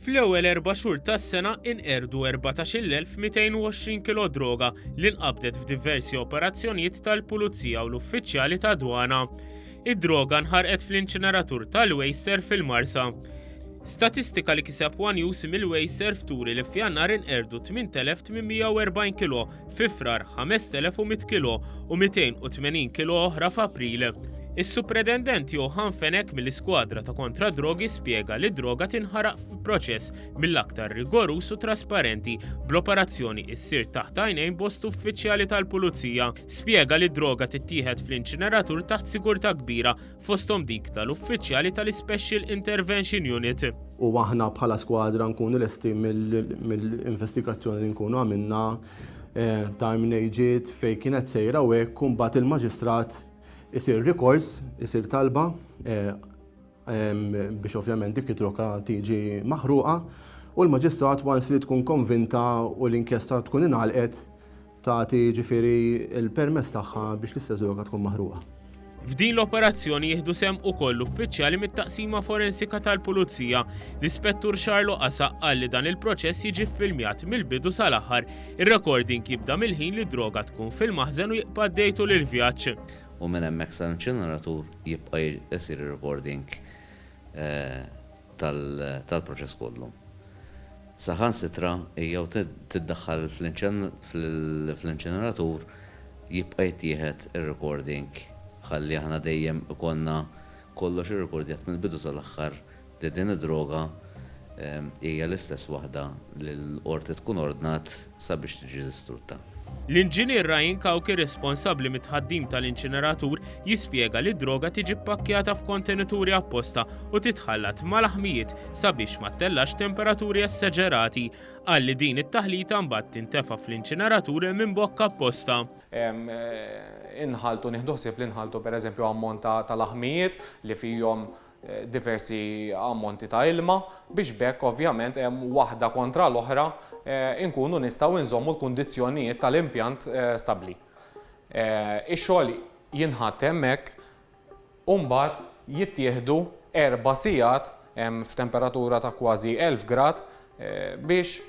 Fl-ewwel erba' xhur tas-sena inqerdu 14,220 kilo droga li nqabdet f'diversi operazzjonijiet tal-Pulizija u l-uffiċjali ta' dwana. Id-droga nħarqet fl-inċineratur tal-Wejser fil-Marsa. Statistika li kiseb One News mill-Wejser fturi li f'Jannar inqerdu 8,840 kilo Fi Frar 5100 kilo u 280 kilo oħra f'April. Is-Supredendent Johan Fenek mill-iskwadra ta' kontra drogi spjega li droga tinħaraq f'proċess mill-aktar rigorus u trasparenti bl-operazzjoni issir taħt għajnejn bost uffiċjali tal-pulizija. Spjega li droga tittieħed fl-inċineratur taħt sigurtà kbira fosthom dik tal-uffiċjali tal-Ispecial Intervention Unit. U aħna bħala skwadra nkunu lesti mill-investigazzjoni li nkunu għamilna eh, ta' mnejġiet fej kienet sejra u hekk mbagħad il-maġistrat isir rikors, isir talba eh, biex ovvjament dik it-troka tiġi maħruqa u l-maġistrat wans li tkun konvinta u l-inkjesta tkun inalqet Tagħti jiġifieri l-permess tagħha biex l-istess droga tkun maħruqa. F'din l-operazzjoni jieħdu sehem ukoll uffiċjali mit-Taqsima Forensika tal-Pulizija. L-Ispettur Xarlo Qasa qal li dan il-proċess jiġi ffilmjat mill-bidu sal-aħħar. Ir-recording jibda mill-ħin li d-droga tkun fil-maħżen u jibqa' għaddej tul il-vjaġġ. U minn hemmhekk sal-inċineratur jibqa' jsir ir-recording tal-proċess kollu. Saħansitra hi jew tiddaħħal fl-inċineratur jibqa' jittieħed ir-recording ħalli aħna dejjem ikollna kollox irrikordjat mill-bidu sal-aħħar li din id-droga hija l-istess waħda li l-qorti tkun ordnat sabiex tiġi distrutta. L-Inġinier Ryan Cauchi responsabbli mit-tħaddim tal-inċineratur jispjega li d-droga tiġi ppakkjata f'kontenituri apposta u titħallat mal-aħmijiet sabiex ma ttellax temperaturi essaġerati. Qal li din it-taħlita mbagħad tintefa' fl-inċineratur minn bokka apposta. Inħalltu, nieħdu ħsieb li nħalltu pereżempju ammont ta' laħmijiet li fihom diversi ammonti ta' ilma biex b'hekk ovvjament waħda kontra l-oħra inkunu nistgħu nżommu l-kundizzjonijiet tal-impjant stabbli. Ix-xogħol jinħatt hemmhekk u mbagħad jittieħdu erba' sigħat f'temperatura ta' kważi 1000 grad biex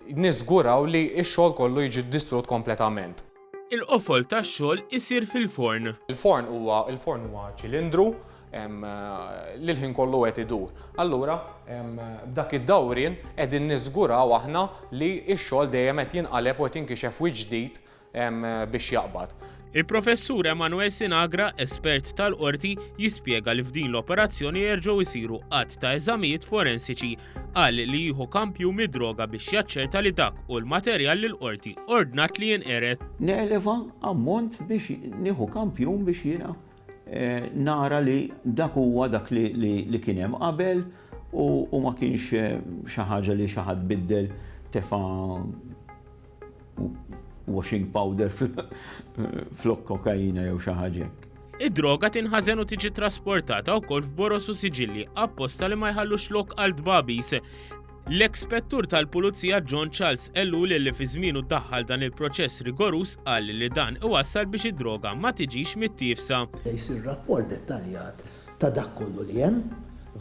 niżguraw li x-xogħol kollu jiġi distrutt kompletament. Il-qofol tax-xogħol isir fil-forn. Il-forn huwa il-forn huwa ċilindru li l-ħin kollu qed idur. Allura b'dak id-dawrien qegħdin niżguraw aħna li x-xogħol dejjem qed jinqaleb u qed jinkixef wiċċ ġdid hemm biex jaqbad. Il-Professur Emmanuel Sinagra, espert tal-Qorti, jispjega li f'din l-operazzjoni jerġgħu jsiru għadd ta' eżamijiet forensiċi. Qal li jieħu kampju mid-droga biex jaċċerta li dak hu l-materjal li l-Qorti ordnat li jinqered. Neleva ammont biex nieħu kampjun biex jiena eh, nara li dak huwa dak li kien hemm qabel u ma kienx eh, xi ħaġa li xi ħadd biddel tefa' washing powder flok kokaina jew xi ħaġa hekk. Id-droga tinħażen u tiġi trasportata wkoll f'boros u siġilli apposta li ma jħallux lok għal dbabis. L-ekspettur tal-Pulizija John Charles Ellul li fi żmienu daħħal dan il-proċess rigorus qal li dan iwassal biex id-droga ma tiġix mittiefsa. Jsir rapport dettaljat ta' dak kollu li hemm,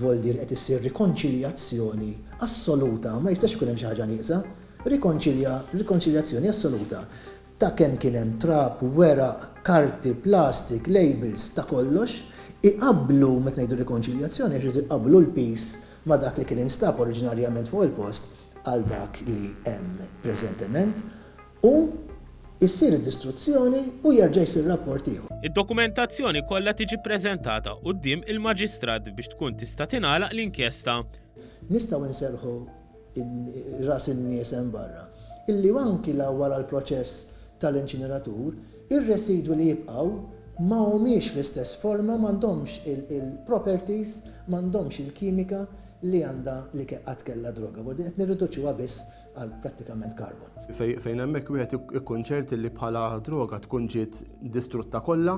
voldir qed issir rikonċiljazzjoni assoluta, ma jistax ikun hemm xi ħaġa nieqsa. Rrikonċilja rikonċiljazzjoni assoluta ta' kemm kien hemm trab, weraq, karti, plastik, labels, ta' kollox, iqabblu, meta ngħidu rikonċiljazzjoni għax iridu jqabblu l-piż ma' dak li kien instab oriġinarjament fuq il-post għal dak li hemm preżentement, u ssir id-distruzzjoni u jerġa' jsir rapport ieħor. Id-dokumentazzjoni kollha tiġi ppreżentata quddiem il-Maġistrat biex tkun tista' tingħalaq l-inkjesta. Nistgħu nserrħu ras in-nies hemm barra, illi anki la wara l-proċess tal-inċineratur, ir-residwi li jibqgħu ma humiex fl-istess forma, m'għandhomx il-properties, m'għandhomx il-kimika li għandha li qatt kellha droga, b'hekk qed nirriduċuha biss għal prattikament carbon. Fejn hemmhekk wieħed ikun ċert li bħala droga tkun ġiet distrutta kollha,